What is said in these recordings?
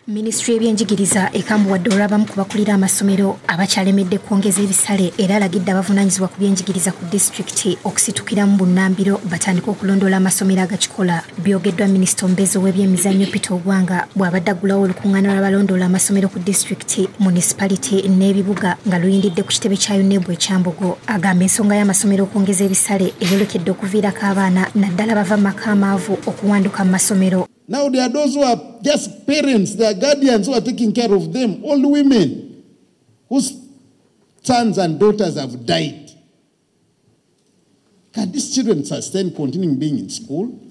minisitule y'ebyenjigiriza ekambuwadde olw'abamu ku bakulira amasomero abakyalemedde kwongeza ebisale era alagidde abavunaanyizibwa ku byenjigiriza ku disitulikiti okusitukiramu bunnambiro batandike okulondoola amasomero agakikola byogeddwa minisita omubeezi ow'ebyemizannyo peter ogwanga bw'abadde aggulawo olukuŋŋaana lw'abalondoola amasomero ku disitulikiti munisipaliti n'ebibuga nga luyindidde ku kitebe kya unebu ekyambogo agamba ensonga y'amasomero okwongeza ebisale eyolekedde okuviirako abaana naddala bava mu maka amaavu okuwanduka mu masomero Now there are those who are just parents, their guardians who are taking care of them, old women whose sons and daughters have died. Can these children sustain continuing being in school?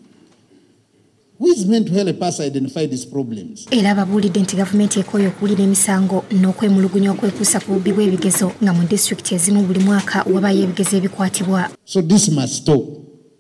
era babuulidde nti gavumenti ekooye okuwulira emisango n'okwemulugunya okwekuusa ku bubbi bw'ebigezo nga mu disitulikiti ezimu buli mwaka wabayo ebigezo ebikwatibwa so this must stop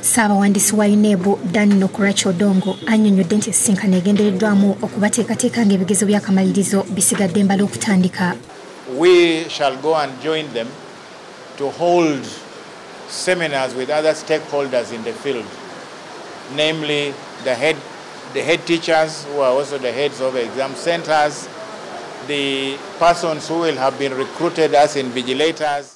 ssaabawandiisi wa unebu dan nokurach odongo annyonnyodde nti esisinkano egendereddwamu okubateekateeka ng'ebigezo by'akamalirizo bisigadde mbala okutandika we shall go and join them to hold seminars with other stakeholders in the field namely the head, the head teachers who are also the heads of exam centers the persons who will have been recruited as invigilators